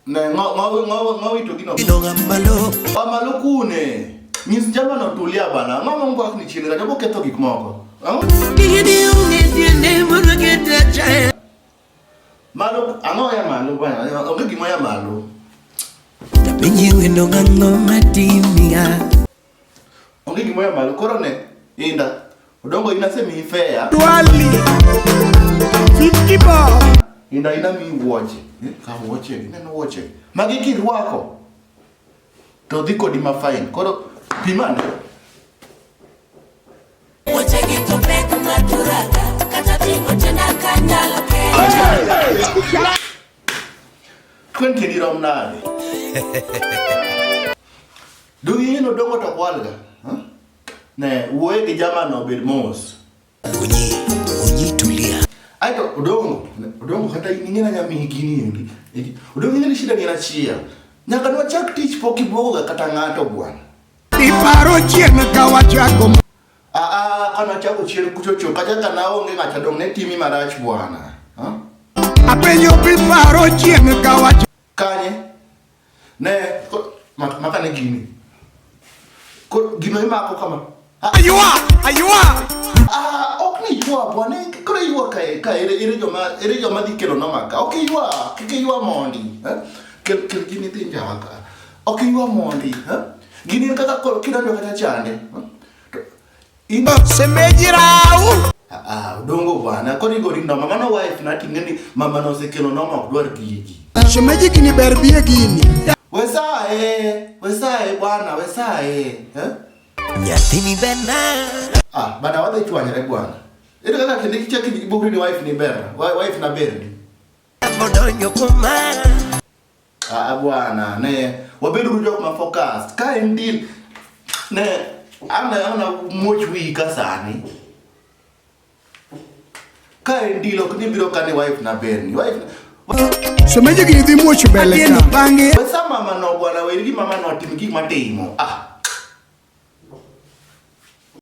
Ne ngo ngo ngo ngo wito gino. Gino ngamalo. Pa malo kune. Nyis jama no tulia bana. Ngo ngo ngwa ni chini rajo ketho gik moko. Gini unge tiende mono kete chaya. Malo ango ya malo bana. Onge gimo ya malo. Tapinyi wendo ngango matimiya. Onge gima ya malo koro ne inda. Odongo ina se mi fair. Twali. Fifty bob. Inda ina mi woche. Eh, ka woche, ina no woche. Magi kirwako. To dhi kodi ma fine. Koro pimane. Woche gi to pek ma turaka. Kata tingo tena kanyalo kera. Kwen kini rom nade. Do you know dongo to kwalga? Huh? Ne, wuoye gi jama no bed mos. Onyi, onyi tulia. Ai to udongo, udongo kata ingena nyami hikini yendi. Udongo ingena shida ngena chia. Nyaka nwa chak tich pok iboga kata ngato bwana. Iparo chieng ka wachako. Ah ah, kana chako chieng kuchocho kata kana onge ngacha dong ne timi marach bwana. Huh? Apenyo piparo chieng ka wachako. Kanye? Ne, maka ne gini. Koro gino imako kama. Ah. Ayua! Ayua! Ah, ok ni yua bwana, koro yua ka ka ere ere joma ere joma dhi kelo na maka. Ok yua, kik yua mondi. Eh? Kel kel gini dhi njawa ka. Ok yua mondi, eh? Gini kaka koro kidonjo kata chande. Eh? Ingo semeji rau. Ah, ah dongo bwana. Koni gori no mama no wife na tingeni mama no sekelo no ma dwar gigi. Semeji kini ber biye gini. Wesae, wesae bwana, wesae. Eh? Nyathini bena. Ah, bana wadhi chwanyre bwana. Ere kaka kende kichaki bugri ni wife ni ber. Wife na ber ni. Modonyo kumara. Ah bwana, ne wabedo uru jok ma focused. Ka en deal ne ana ana muoch wiyi ka sani. Ka en deal ok ni biro kane wife na berni. Wife Semeje gini dhi muoch mbele Atieno ka. bang'e we sa mama no bwana weri gi mama no tim gik matimo. Ah